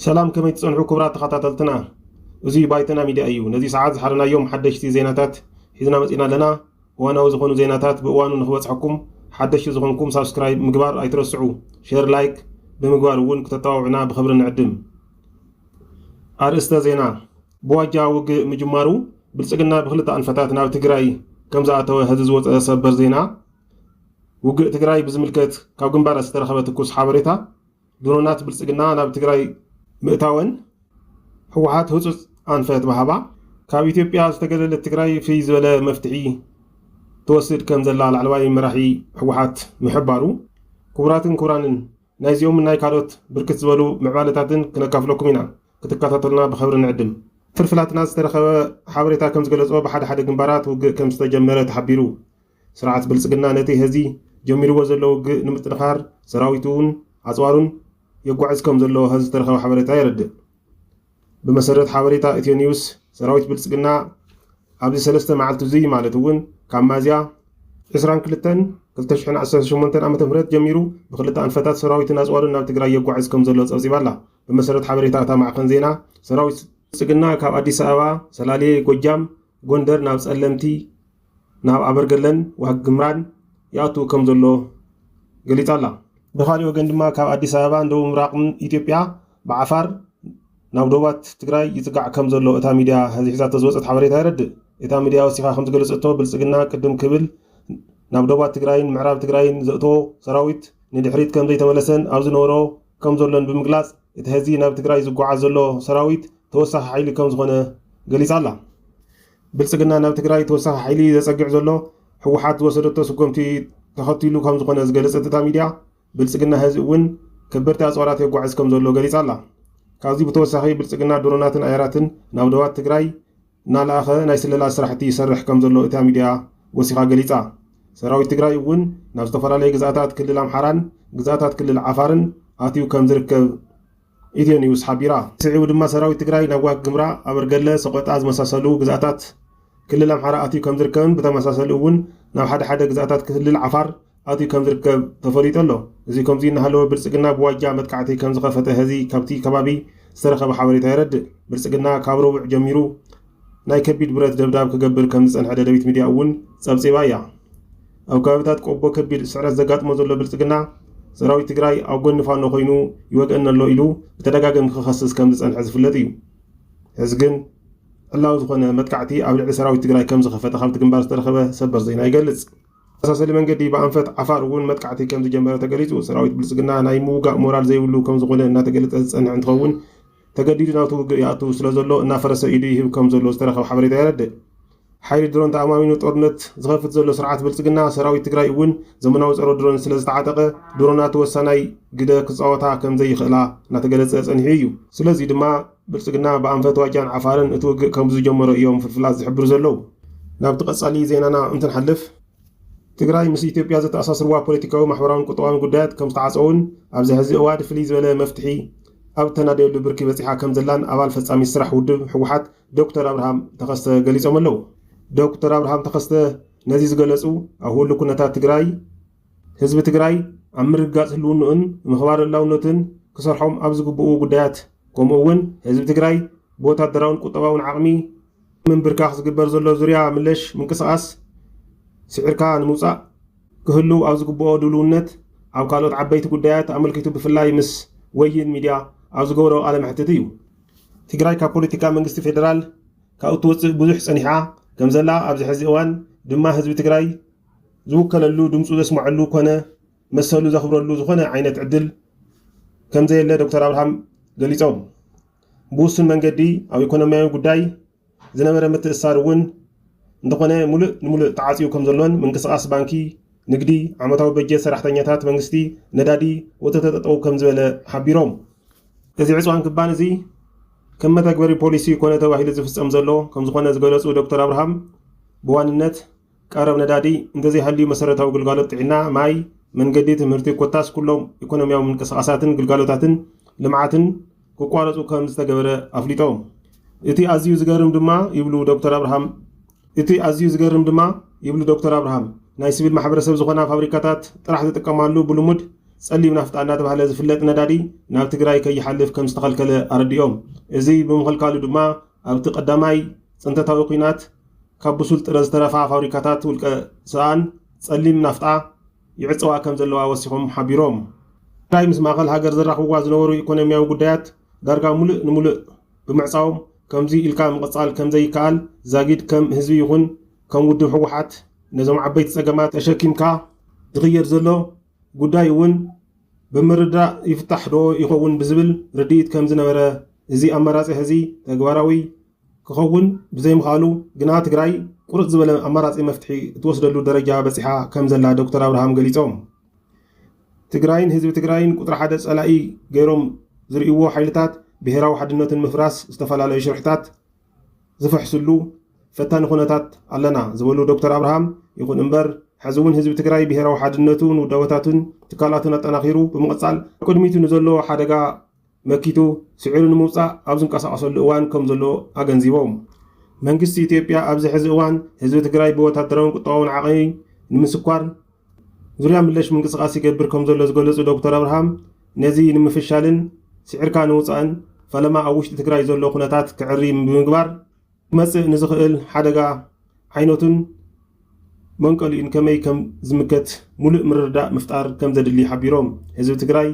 ሰላም ከመይ ትጸንሑ ክቡራት ተኸታተልትና፣ እዚ ባይተና ሚድያ እዩ። ነዚ ሰዓት ዝሓረናዮም ሓደሽቲ ዜናታት ሒዝና መጺና ኣለና። እዋናዊ ዝኾኑ ዜናታት ብእዋኑ ንክበጽሐኩም ሓደሽቲ ዝኾንኩም ሳብስክራይብ ምግባር ኣይትረስዑ፣ ሼር ላይክ ብምግባር እውን ክተጠዋውዕና ብኽብሪ ንዕድም። ኣርእስተ ዜና ብዋጃ ውግእ ምጅማሩ ብልፅግና ብክልተ ኣንፈታት ናብ ትግራይ ከምዝኣተወ ሐዚ ዝወፀ ሰበር ዜና ውግእ ትግራይ ብዝምልከት ካብ ግንባራት ዝተረኸበ ትኩስ ሓበሬታ ድሮናት ብልፅግና ናብ ትግራይ ምእታወን ህወሓት ህፁፅ ኣንፈት ምሃባ ካብ ኢትዮጵያ ዝተገለለት ትግራይ ፍይ ዝበለ መፍትሒ ትወስድ ከምዘላ ላዕለዋይ መራሒ ህወሓት ምሕባሩ ክቡራትን ክቡራንን ናይዚኦምን ናይ ካልኦት ብርክት ዝበሉ ምዕባለታትን ክነካፍለኩም ኢና። ክትከታተሉና ብኸብሪ ንዕድም። ፍልፍላትና ዝተረኸበ ሓበሬታ ከምዝገለፆ ብሓደ ሓደ ግንባራት ውግእ ከምዝተጀመረ ተሓቢሩ። ስርዓት ብልፅግና ነቲ ሀዚ ጀሚርዎ ዘሎ ውግእ ንምጥንኻር ሰራዊቱን ኣፅዋሩን የጓዕዝ ከምዘሎ ሀዚ ዝተረኸበ ሓበሬታ የረድእ። ብመሰረት ሓበሬታ ኢትዮ ኒውስ፣ ሰራዊት ብልጽግና ኣብዚ ሰለስተ መዓልቲ'ዙይ ማለት እውን ካብ ሚያዝያ ዕስራን ክልተን ክልተ ሽሕን ዓሰርተ ሸሞንተን ዓመተ ምህረት ጀሚሩ ብክልተ ኣንፈታት ሰራዊትን ኣጽዋርን ናብ ትግራይ የጓዕዝ ከምዘሎ ጸብጺባ ኣላ። ብመሰረት ሓበሬታ እታ ማዕኸን ዜና፣ ሰራዊት ብልጽግና ካብ ኣዲስ ኣበባ፣ ሰላሌ፣ ጎጃም፣ ጎንደር ናብ ጸለምቲ፣ ናብ ኣበርገለን ዋግ ኽምራን ይኣቱ ከምዘሎ ገሊጻ ኣላ። ብኻሊእ ወገን ድማ ካብ ኣዲስ ኣበባን ደቡብ ምብራቕን ኢትዮጵያ ብዓፋር ናብ ዶባት ትግራይ ይጽጋዕ ከም ዘሎ እታ ሚድያ ሐዚ ሒዛቶ ዝወጸት ሓበሬታ የረድእ። እታ ሚድያ ወሲኻ ከም ዝገለጸቶ ብልጽግና ቅድም ክብል ናብ ዶባት ትግራይን ምዕራብ ትግራይን ዘእትዎ ሰራዊት ንድሕሪት ከም ዘይተመለሰን ኣብ ዝነበሮ ከም ዘሎን ብምግላጽ እቲ ሐዚ ናብ ትግራይ ዝጓዓዝ ዘሎ ሰራዊት ተወሳኺ ሓይሊ ከም ዝኾነ ገሊጻ ኣላ። ብልጽግና ናብ ትግራይ ተወሳኺ ሓይሊ ዘጸግዕ ዘሎ ህወሓት ዝወሰደቶ ስጎምቲ ተኸቲሉ ከም ዝኾነ ዝገለጸት እታ ሚድያ ብልጽግና ሐዚ እውን ከበድቲ ኣፅዋራት የጓዕዝ ከምዘሎ ገሊፃ ኣላ። ካብዚ ብተወሳኺ ብልፅግና ድሮናትን ኣየራትን ናብ ዶባት ትግራይ እናለኣኸ ናይ ስለላ ስራሕቲ ይሰርሕ ከምዘሎ እታ ሚድያ ወሲኻ ገሊፃ። ሰራዊት ትግራይ እውን ናብ ዝተፈላለዩ ግዝኣታት ክልል ኣምሓራን ግዝኣታት ክልል ዓፋርን ኣትዩ ከምዝርከብ ኢትዮ ኒውስ ሓቢራ። ስዒቡ ድማ ሰራዊት ትግራይ ናብ ዋግ ኽምራ፣ ኣበርገለ፣ ሰቖጣ ዝመሳሰሉ ግዝኣታት ክልል ኣምሓራ ኣትዩ ከምዝርከብን ብተመሳሰሊ እውን ናብ ሓደ ሓደ ግዝኣታት ክልል ዓፋር ኣትዩ ከምዝርከብ ተፈሊጡ ኣሎ። እዚ ከምዙይ እናሃለወ ብልፅግና ብዋጃ መጥቃዕቲ ከምዝኸፈተ ሐዚ ካብቲ ከባቢ ዝተረኸበ ሓበሬታ የረድእ። ብልፅግና ካብ ረቡዕ ጀሚሩ ናይ ከቢድ ብረት ደብዳብ ክገብር ከምዝፀንሐ ደደቢት ሚድያ እውን ፀብፂባ እያ። ኣብ ከባቢታት ቆቦ ከቢድ ስዕረት ዘጋጥሞ ዘሎ ብልፅግና፣ ሰራዊት ትግራይ ኣብ ጎኒ ፋኖ ኮይኑ ይወግኣኒ ኣሎ ኢሉ ብተደጋገሚ ክኸስስ ከምዝፀንሐ ዝፍለጥ እዩ። ሕዚ ግን ዕላዊ ዝኾነ መጥቃዕቲ ኣብ ልዕሊ ሰራዊት ትግራይ ከምዝኸፈተ ካብቲ ግንባር ዝተረኸበ ሰበር ዜና ይገልፅ። ብተመሳሰሊ መንገዲ ብኣንፈት ዓፋር እውን መጥቃዕቲ ከምዝጀመረ ተገሊፁ። ሰራዊት ብልፅግና ናይ ምውጋእ ሞራል ዘይብሉ ከምዝኾነ እናተገለፀ ዝፀንሐ እንትኸውን፣ ተገዲዱ ናብቲ ውግእ ይኣቱ ስለዘሎ እናፈረሰ ኢዱ ይህብ ከምዘሎ ዝተረኸበ ሓበሬታ የረድእ። ሓይሊ ድሮን ተኣማሚኑ ጦርነት ዝኸፍት ዘሎ ስርዓት ብልፅግና፣ ሰራዊት ትግራይ እውን ዘመናዊ ፀረ ድሮን ስለዝተዓጠቐ ድሮናት ወሳናይ ግደ ክፃወታ ከምዘይኽእላ እናተገለፀ ፀኒሑ እዩ። ስለዙይ ድማ ብልፅግና ብኣንፈት ዋጃን ዓፋርን እቲ ውግእ ከምዝጀመሮ እዮም ፍልፍላት ዝሕብሩ ዘለው። ናብቲ ቀፃሊ ዜናና እንትንሓልፍ፣ ትግራይ ምስ ኢትዮጵያ ዘተኣሳስርዋ ፖለቲካዊ፣ ማሕበራውን ቁጠባውን ጉዳያት ከምዝተዓፀዉን ኣብዚ ሐዚ እዋድ ፍልይ ዝበለ መፍትሒ ኣብ እተናደየሉ ብርኪ በፂሓ ከምዘላን ኣባል ፈፃሚት ስራሕ ውድብ ህወሓት ዶክተር ኣብርሃም ተኸስተ ገሊፆም ኣለው። ዶክተር ኣብርሃም ተኸስተ ነዚ ዝገለፁ ኣብ ህሉ ኩነታት ትግራይ ህዝቢ ትግራይ ኣብ ምርግጋፅ ህልውንኡን ምኽባር ልእላውነቱን ክሰርሖም ኣብ ዝግብኡ ጉዳያት ከምኡ እውን ህዝቢ ትግራይ ብወታደራውን ቁጠባውን ዓቕሚ ምንብርካኽ ዝግበር ዘሎ ዙርያ ምለሽ ምንቅስቓስ ስዒርካ ንምውፃእ ክህልው ኣብ ዝግብኦ ድሉውነት ኣብ ካልኦት ዓበይቲ ጉዳያት ኣመልኪቱ ብፍላይ ምስ ወይን ሚድያ ኣብ ዝገበሮ ቃለ መሕትት እዩ። ትግራይ ካብ ፖለቲካ መንግስቲ ፌደራል ካብ እትወፅእ ብዙሕ ፀኒሓ ከምዘላ ኣብዚ ሕዚ እዋን ድማ ህዝቢ ትግራይ ዝውከለሉ ድምፁ ዘስመዐሉ ኮነ መሰሉ ዘኽብረሉ ዝኾነ ዓይነት ዕድል ከምዘየለ ዶክተር ኣብርሃም ገሊፆም። ብውሱን መንገዲ ኣብ ኢኮኖሚያዊ ጉዳይ ዝነበረ ምትእስሳር እውን እንተኾነ ሙሉእ ንሙሉእ ተዓፅዩ ከምዘሎን ምንቅስቓስ ባንኪ፣ ንግዲ፣ ዓመታዊ በጀት ሰራሕተኛታት መንግስቲ፣ ነዳዲ ወዘተ ጠጠው ከምዝበለ ሓቢሮም። እዚ ዕፅዋን ክባን እዚ ከም መተግበሪ ፖሊሲ ኮነ ተባሂሉ ዝፍፀም ዘሎ ከምዝኾነ ዝገለፁ ዶክተር ኣብርሃም ብዋንነት፣ ቀረብ ነዳዲ እንተዘይሃልዩ መሰረታዊ ግልጋሎት ጥዒና፣ ማይ፣ መንገዲ፣ ትምህርቲ ኮታስ ኩሎም ኢኮኖሚያዊ ምንቅስቓሳትን ግልጋሎታትን ልምዓትን ክቋረፁ ከም ዝተገበረ ኣፍሊጦም። እቲ ኣዝዩ ዝገርም ድማ ይብሉ ዶክተር ኣብርሃም እቲ ኣዝዩ ዝገርም ድማ ይብሉ ዶክተር ኣብርሃም ናይ ስቪል ማሕበረሰብ ዝኾና ፋብሪካታት ጥራሕ ዝጥቀማሉ ብልሙድ ፀሊም ናፍጣ እናተባህለ ዝፍለጥ ነዳዲ ናብ ትግራይ ከይሓልፍ ከም ዝተኸልከለ ኣረዲኦም። እዚ ብምኽልካሉ ድማ ኣብቲ ቀዳማይ ፅንተታዊ ኲናት ካብ ብሱል ጥረ ዝተረፋ ፋብሪካታት ውልቀ ሰኣን ፀሊም ናፍጣ ይዕፀዋ ከምዘለዋ ወሲኾም ሓቢሮም። ትግራይ ምስ ማእኸል ሃገር ዘራኽብዋ ዝነበሩ ኢኮኖሚያዊ ጉዳያት ዳርጋ ሙሉእ ንሙሉእ ብምዕፃዎም ከምዙይ ኢልካ ምቕፃል ከምዘይከኣል ዛጊድ ከም ህዝቢ ይኹን ከም ውድብ ህወሓት ነዞም ዓበይቲ ፀገማት ተሸኪምካ ዝኽየድ ዘሎ ጉዳይ እውን ብምርድዳእ ይፍታሕ ዶ ይኸውን ብዝብል ርድኢት ከምዝነበረ እዚ ኣማራፂ ሐዚ ተግባራዊ ክኸውን ብዘይምኽኣሉ ግና ትግራይ ቁርፅ ዝበለ ኣማራፂ መፍትሒ እትወስደሉ ደረጃ በፂሓ ከምዘላ ዶክተር ኣብርሃም ገሊፆም። ትግራይን ህዝቢ ትግራይን ቁፅሪ ሓደ ፀላኢ ገይሮም ዝርእይዎ ሓይልታት ብሄራዊ ሓድነቱ ንምፍራስ ዝተፈላለዩ ሽርሕታት ዝፍሕስሉ ፈታኒ ኩነታት ኣለና ዝበሉ ዶክተር ኣብርሃም ይኹን እምበር ሕዚ እውን ህዝቢ ትግራይ ብሄራዊ ሓድነቱን ውዳበታቱን ትካላቱን ኣጠናኺሩ ብምቕፃል ኣብ ቅድሚቱ ንዘሎ ሓደጋ መኪቱ ስዒሩ ንምውፃእ ኣብ ዝንቀሳቐሰሉ እዋን ከምዘሎ ኣገንዚቦም። መንግስቲ ኢትዮጵያ ኣብዚ ሕዚ እዋን ህዝቢ ትግራይ ብወታደራውን ቁጠባውን ዓቕሚ ንምስኳር ዙርያ ምለሽ ምንቅስቓስ ይገብር ከምዘሎ ዝገለፁ ዶክተር ኣብርሃም ነዚ ንምፍሻልን ስዒርካ ንውፃእን ፈለማ ኣብ ውሽጢ ትግራይ ዘሎ ኩነታት ክዕሪ ብምግባር ክመጽእ ንዝኽእል ሓደጋ ዓይነቱን መንቀሊኡን ከመይ ከም ዝምከት ሙሉእ ምርድዳእ ምፍጣር ከም ዘድሊ ሓቢሮም። ህዝቢ ትግራይ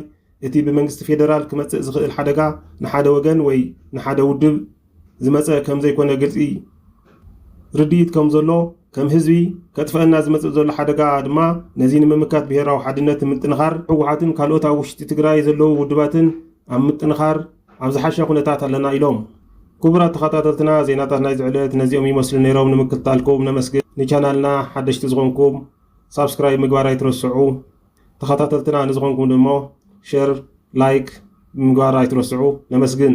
እቲ ብመንግስቲ ፌደራል ክመጽእ ዝኽእል ሓደጋ ንሓደ ወገን ወይ ንሓደ ውድብ ዝመጸ ከም ዘይኮነ ግልጺ ርድኢት ከም ዘሎ ከም ህዝቢ ከጥፈኣና ዝመጽእ ዘሎ ሓደጋ ድማ ነዚ ንምምካት ብሄራዊ ሓድነት ንምጥንኻር ህወሓትን ካልኦት ኣብ ውሽጢ ትግራይ ዘለዉ ውድባትን ኣብ ምጥንኻር ኣብ ዝሓሸ ኩነታት ኣለና ኢሎም። ኩቡራት ተኻታተልትና ዜናታት ናይዚ ዕለት ነዚኦም ይመስሉ ነይሮም ንምክትታልኩም ነመስግን ንቻናልና ሓደሽቲ ዝኾንኩም ሳብስክራይብ ምግባር ኣይትረስዑ ተኻታተልትና ንዝኾንኩም ደሞ ሸር ላይክ ምግባር ኣይትረስዑ ነመስግን።